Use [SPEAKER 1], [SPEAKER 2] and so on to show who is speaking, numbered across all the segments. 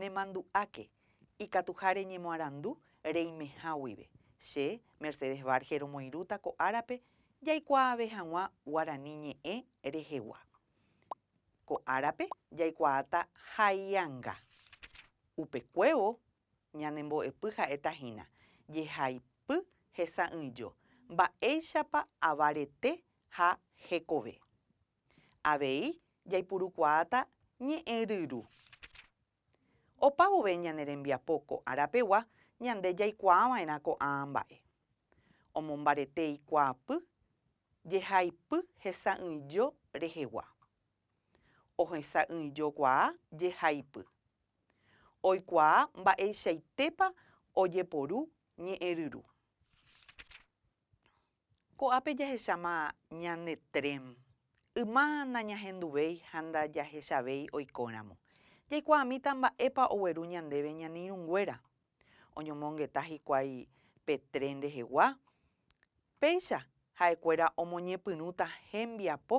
[SPEAKER 1] Nemandu'áke ikatuha reñemoarandu reimeha guive. Che, Mercedes Varge romoirũta ko árape jaikuaave hag̃ua guarani ñe'ẽ rehegua. Ko árape jaikuaáta Haianga. Upekuévo ñane mbo'epy ha'éta hína, Jehaipy hesa'ỹijo, mba'éichapa ava rete ha hekove. Avei jaipurukuaáta ñe'ẽ ryru. Opa vove ñane rembiapo ko ára pegua ñande jaikuaa va'erã ko'ãa mba'e. Omombarete ikuaapy, jehaipy hesa'ỹijo rehegua. Ohesa'ỹijokuaa jehaipy. Oikuaa mba'eichaitépa ojeporu ñe'ẽ ryru. Ko'ápe jahecháma ñande tren. Yma nañahenduvéi ha ndajahechavéi oikóramo. Jaikuaamíta mba'épa ogueru ñandéve ñane irũnguéra. Oñomongeta hikuái pe tren rehegua? Péicha ha'ekuéra omoñepyrũta hembiapo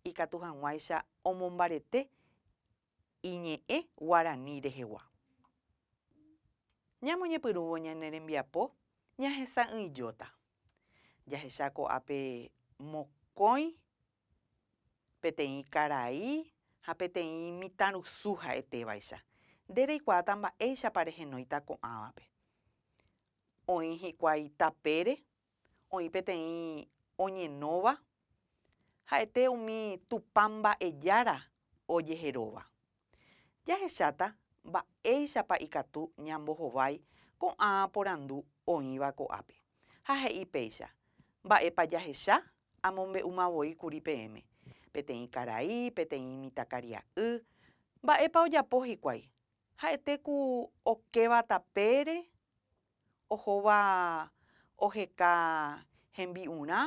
[SPEAKER 1] ikatu hag̃uáicha omombarete iñe'ẽ guarani rehegua. Ñamoñepyrũvo ñane rembiapo ñahesa'ỹijóta. Jahecha ko'ápe mokõi, peteĩ karai ha peteĩ mitãrusu ha'etévaicha. Nde reikuaáta mba'éichapa rehenóita ko'ãvape. Oĩ hikuái tapére Oĩ peteĩ oñenóva ha'ete umi Tupã mba'ejára ojeheróva. Jahecháta mba'éichapa ikatu ñambohovái ko'ã porandu oĩva ko'ápe, ha he'i péicha, Mba'épa jahecha? Amombe'úma voi kuri peẽme, peteĩ karai, peteĩ mitãkaria'y. Mba'épa ojapo hikuái? Ha'ete ku okéva tapére? ohóva oheka hembi'urã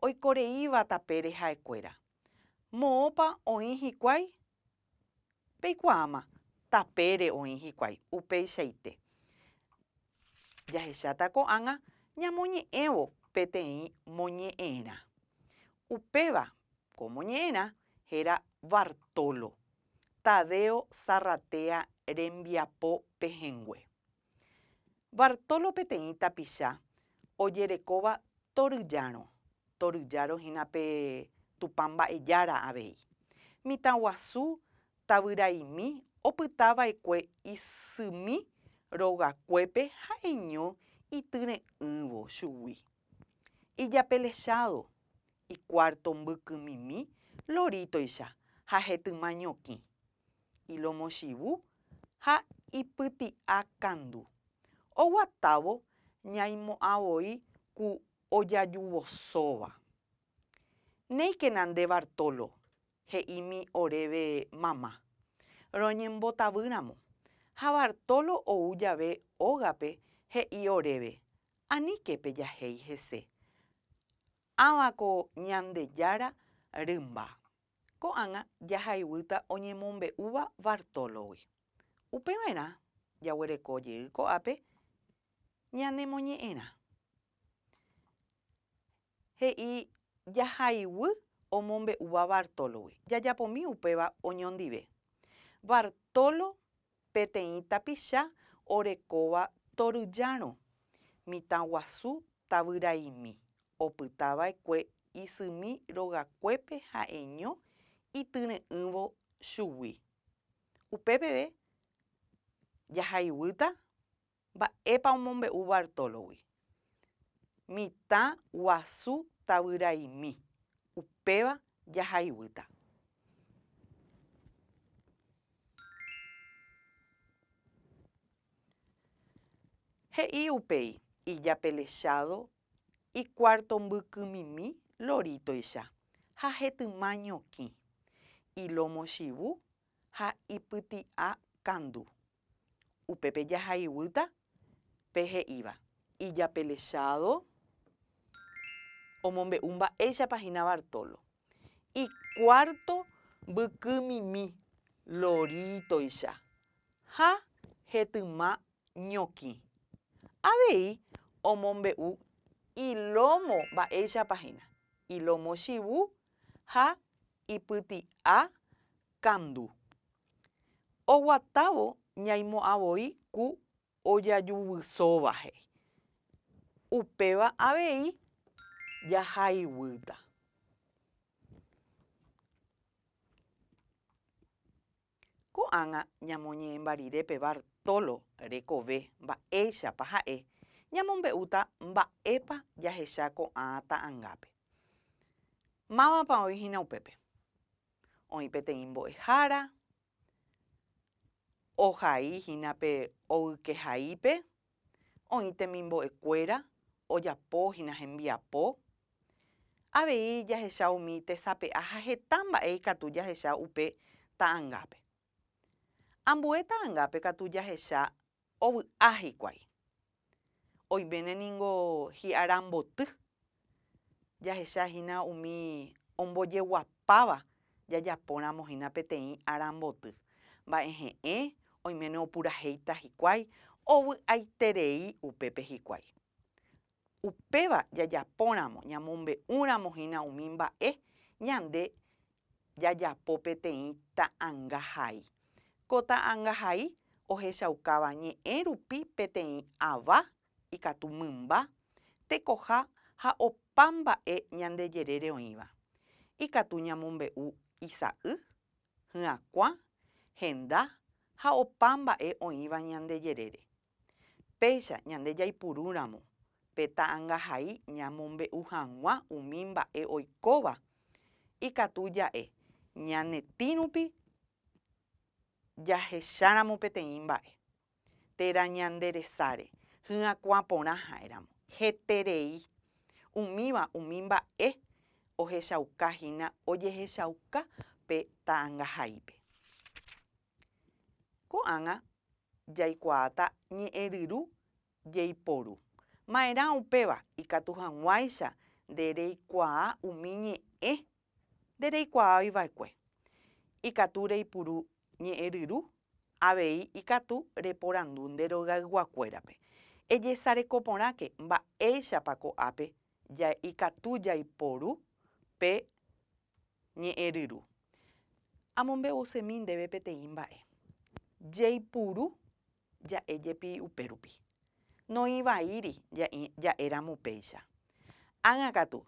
[SPEAKER 1] oikoreíva tapére ha'ekuéra. Moõpa oĩ hikuái? Peikuaáma, tapére oĩ hikuái, upeichaite. Jahecháta ko'ág̃a ñamoñe'ẽvo peteĩ moñe'ẽrã. Upéva ko moñe'ẽrã héra Bartolo, Tadeo Zarratea rembiapo pehẽngue. Bartolo peteĩ tapicha ojerekóva torýjárõ, torýjárõ hína pe Tupã Mba'ejára avei. Mitãguasu tavyraimi opyta vaekue isymi rogakuépe ha'eño ityre'ỹvo chugui. Ijapellechádo, ikuárto mbykymimi lorítoicha ha hetyma ñokĩ. ilomochivu ha ipyti'a kandu. Oguatávo ñaimo'ã voi ku ojajuvosóva. Néikena nde Bartolo, he'ími oréve mama. Roñembotavýramo. Ha Bartolo ou jave ógape he'i oréve, Aníke pejahéi hese. Ãva ko Ñandejára rymba. Ko'ág̃a jahayhúta oñemombe'úva Bartolo-gui. Upeva'erã jaguereko jey ko'ápe ñanemoñe'ẽrã. He'i jahayhúy omombe'úva Bartolo-gui. Jajapómi upéva oñondive. Bartolo Peteĩ tapicha orekóva toryllarõ, mitãguasu tavyraimi, opytava'ekue isymi rogakuépe ha'eño ityre'ỹvo chugui. Upépeve jahayhúta Mba'épa omombe'u Bartólogui? Mitã guasu tavyraimi, upéva jahaiguýta. He'i upéi ijapellechádo ikuárto mbykymimi lorítoicha ha hetyma ñokĩ, ilómo chivu ha ipyti'a kandu. Upépe jahayguýta pe he'íva. Ijapelechado omombe'u mba'éichapa hína Bartolo. Ikuárto mbykymimi lorítoicha ha hetyma ñokĩ. Avei omombe'u ilómo mba'éichapa hína, ilómo chivu ha ipyti'a Kandu. Oguatávo ñaimo'ã voi ku ojajuvysóva he'i. Upéva avei jahayguýta. Ko'ág̃a ñamoñe'ẽmba rire pe Bartolo rekove mba'éichapa ha'e, ñamombe'úta mba'épa jahecha ko'ã ta'angápe. Mávapa oĩhína upépe? Oĩ peteĩ mbo'ehára ohai hína pe ovyke haípe, oĩ temimbo'e kuéra ojapo hína hembiapo. Avei jahecha umi tesape'a ha heta mba'e ikatu jahecha upe ta'angápe. Ambue ta'angápe katu jahecha ovy'a hikuái. Oiméne ningo hi'ára mboty, jahecha hína umi ombojeguapáva jajapóramo hína peteĩ ára mboty. Mba'e he'ẽ, oiméne opurahéita hikuái, ovy'aiterei upépe hikuái. Upéva jajapóramo ñamombe'úramo hína umi mba'e ñande jajapo peteĩ ta'anga hai. Ko ta'anga hai ohechaukáva ñe'ẽ rupi peteĩ ava, ikatu mymba, tekoha ha opa mba'e ñande jerére oĩva. Ikatu ñamombe'u isa'y, hyakuã, henda ha opa mba'e oĩva ñande jerére. Péicha ñande jaipurúramo pe ta'angahai ñamombe'u hag̃ua umi mba'e oikóva, ikatu ja'e ñane tĩ rupi jahecháramo peteĩ mba'e, térã ñande resáre hyakuã porã ha'éramo. Heterei umíva umi mba'e ohechauka hína ojehechauka pe ta'angahaípe. Ko'ág̃a jaikuaáta ñe'ẽryru jeiporu. Ma'erã upéva ikatu hag̃uáicha nde reikuaa umi ñe'ẽ nde reikuaávi va'ekue. Ikatu reipuru ñe'ẽryru avei ikatu reporandu nde rogayguakuérape, Ejesareko porãke mba'éichapa ko'ápe ikatu jaiporu pe Ñe'ẽryru. Amombe'usémi ndéve peteĩ mba'e. Jeipuru ja'e jepi upérupi. Noĩvaíri ja'e ja'éramo upéicha. Ág̃a katu,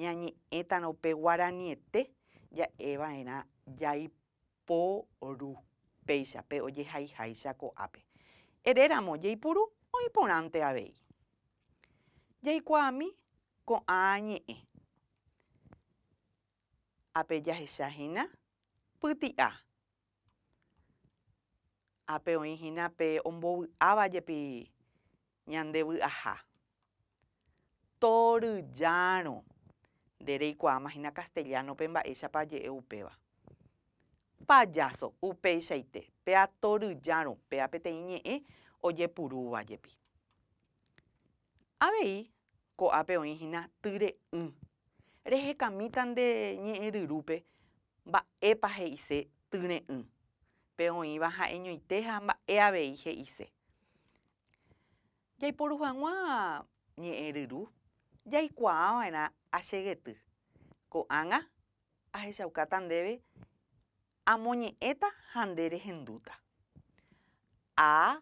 [SPEAKER 1] ñañe'ẽtarõ upe guaraniete ja'eva'erã jaiporu péicha pe ojehaiháicha ko'ápe. Eréramo jeipuru oĩ porãnte avei. Jaikuaami ko'ã ñe'ẽ. Ape jahecha hína pyti'a. Ape oĩ hína pe ombovy'áva jepi ñande vy'aha. Torýjárõ. Nde reikuaáma hína castellano-pe mba'éichapa aje'e upéva. Payaso, upeichaite, pea torýjárõ, pea peteĩ ñe'ẽ ojepurúva jepi. Avei ko'ápe oĩ hína tyre'ỹ. Rehekamíta nde ñe'ẽryrúpe mba'épa he'ise tyre'ỹ. Pe oĩva ha'eñoite ha mba'e avei he'ise. Jaiporu hag̃ua ñe'ẽryru jaikuaa va'erã achegety. Ko'ág̃a ahechaukáta ndéve amoñe'ẽta ha nde rehendúta. A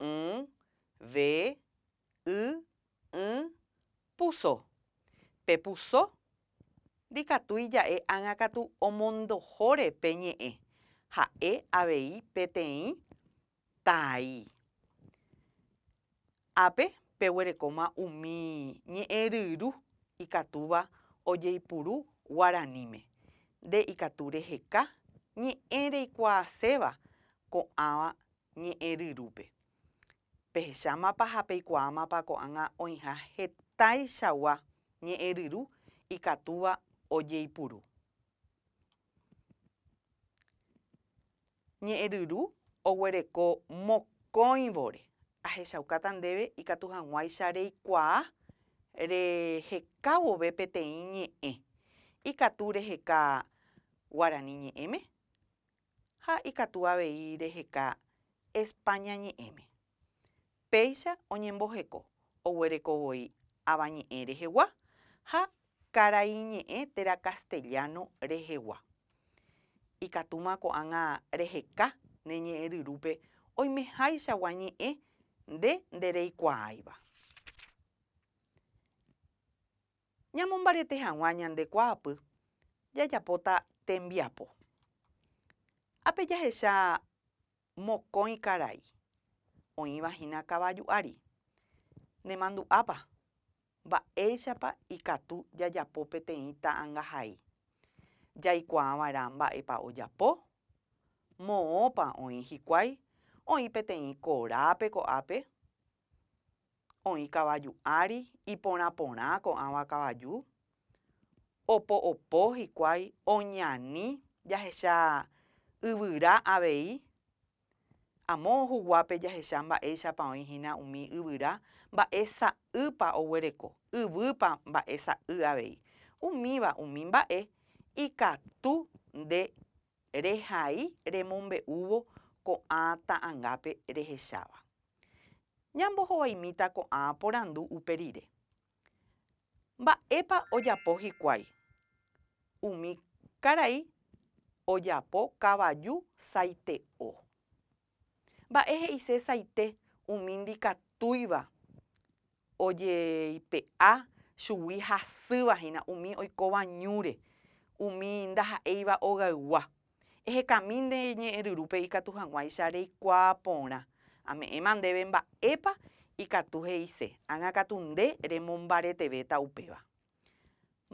[SPEAKER 1] y, ve, y, ỹ, puso. Pe puso ndikatu ija'e ág̃a katu omondohóre pe ñe'ẽ, ha'e avei peteĩ tai. Ápe peguerekóma umi ñe'ẽ ryru ikatúva ojeipuru guaraníme. Nde ikatu reheka ñe'ẽ reikuaaséva ko'ãva Ñe'ẽ ryrúpe. Pehechámapa ha peikuaámapa ko'ág̃a oĩha hetaichagua ñe'ẽ ryru ikatúva ojeipuru. Ñe'ẽ ryru oguereko mokõivore. Ahechaukáta ndéve ikatu hag̃uáicha reikuaa reheka vove peteĩ ñe'ẽ. Ikatu reheka Guarani ñe'ẽme, Ha ikatu avei reheka España ñe'ẽme. Péicha oñemboheko oguereko voi Avañe'ẽ rehegua ha Karaiñe'ẽ térã castellano rehegua. Ikatúma ko'ág̃a reheka ne ñe'ẽryrúpe oimeháichagua ñe'ẽ nde ndereikuaáiva. Ñamombariete hag̃ua ñande kuaapy, jajapóta tembiapo. Ápe jahecha mokõi karai, oĩva hína kavaju ári. Nemandu'ápa, mba'éichapa ikatu jajapo peteĩ ta'angahai? Jaikuaava'erã mba'épa ojapo? Moõpa oĩ hikuái oĩ peteĩ korápe ko'ápe? oĩ kavaju ári iporã porã ko'ãva kavaju, opo opo hikuái oñani jahecha yvyra avei, amo huguápe jahecha mba'éichapa oĩ hína umi yvyra, mba'e sa'ýpa oguereko, yvýpa mba'e sa'y avei. Umíva umi mba'e ikatu nde Rehai remombe'úvo ko'ã ta'angápe rehecháva. Ñambohovaimíta ko'ã porandu upe rire. Mba'épa ojapo hikuái? Umi karai ojapo kavaju saite'o. Mba'e he'ise saite umi ndikatúiva ojeipe'a chugui hasýva hína umi oikóva ñúre, umi ndaha'éiva ogaygua. Ehekami nde ñe'ẽryrúpe ikatu hag̃uáicha reikuaa porã. Ame'ẽma ndéve mba'épa ikatu he'ise, ág̃akatu nde remombaretevéta upéva.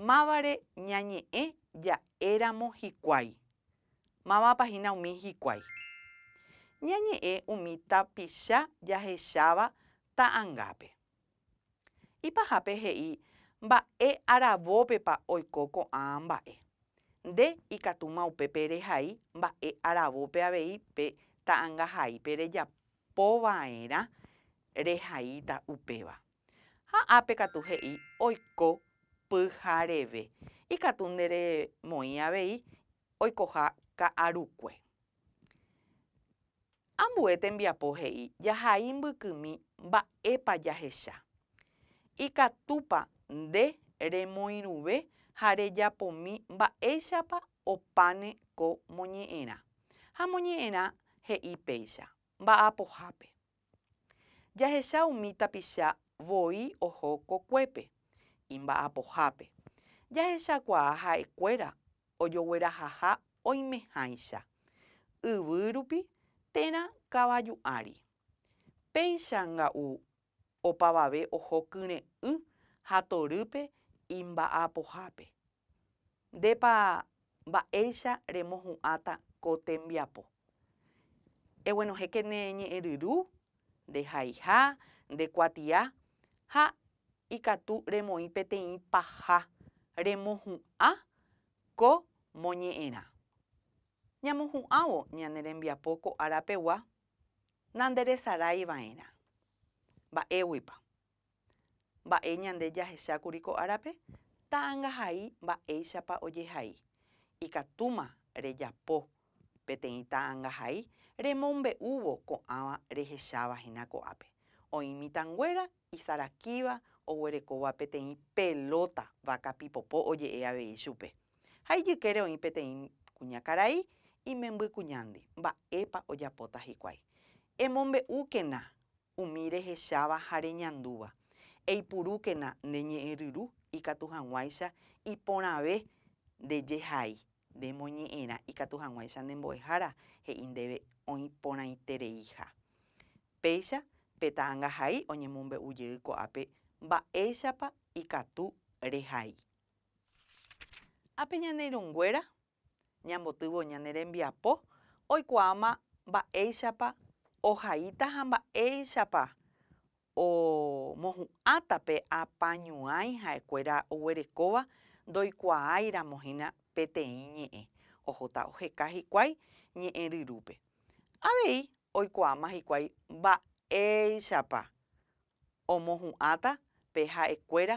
[SPEAKER 1] Mávare ñañe'ẽ ja'éramo hikuái? Mávapa hína umi hikuái? Ñañe'ẽ umi tapicha jahecháva ta'angápe. Ipahápe he'i mba'e aravópepa oiko ko'ã mba'e. Nde ikatúma upépe rehai mba'e aravópe avei pe ta'angahaípe rejapova'erã rehaíta upéva. Ha ápe katu he'i oiko pyhareve, ikatu nde remoĩ avei oikoha ka'arukue. Ambue tembiapo he'i jahai mbykymi mba'épa jahecha. Ikatúpa nde remoirũve ha rejapomi mba'éichapa opáne ko moñe'ẽrã. Ha moñe'ẽrã he'i péicha, mba'apohápe. Jahecha umi tapicha voi oho kokuépe, imba'apohápe. Jahechakuaa ha'ekuéra ojoguerahaha oimehãicha, yvy rupi térã kavaju ári. Péicha nga'u opavave oho kyre'ỹ ha torýpe imba'apohápe. Ndépa mba'éicha remohu'ãta ko tembiapo. Eguenohẽke ne ñe'ẽryru, nde haiha, nde kuatia, ha ikatu remoĩ peteĩ paha remohu'ã ko moñe'ẽrã. Ñamohu'ãvo ñane rembiapo ko ára pegua, nanderesarái va'erã. Mba'éguipa? Mba'e ñande jahechákuri ko árape ta'angahai mba'éichapa ojehai. Ikatúma rejapo peteĩ ta'angahai remombe'úvo ko'ãva rehecháva hína ko'ápe. Oĩ mitãnguéra isarakíva oguerekóva peteĩ pelóta váka pipopo oje'e avei chupe. Ha ijykére oĩ peteĩ kuñakarai imembykuñándi. Mba'épa ojapóta hikuái? Emombe'úkena Umi rehecháva ha reñandúva, eipurúkena nde ñe'ẽryru ikatu hag̃uáicha iporãve nde jehai, nde moñe'ẽrã ikatu hag̃uáicha nde mbo'ehára, he'i ndéve oĩ porãitereiha. Péicha pe ta'angahai oñemombe'u jey ko'ápe mba'éichapa ikatu rehai. Ha pe ñane irũnguéra ñambotyvõ ñane rembiapo oikuaáma mba'éichapa ohaíta ha mba'éichapa omohu'ãta pe apañuãi ha'ekuéra oguerekóva ndoikuaáiramo hína peteĩ ñe'ẽ ohóta oheka hikuái ñe'ẽ ryrúpe. Avei oikuaáma hikuái mba'éichapa omohu'ãta pe ha'ekuéra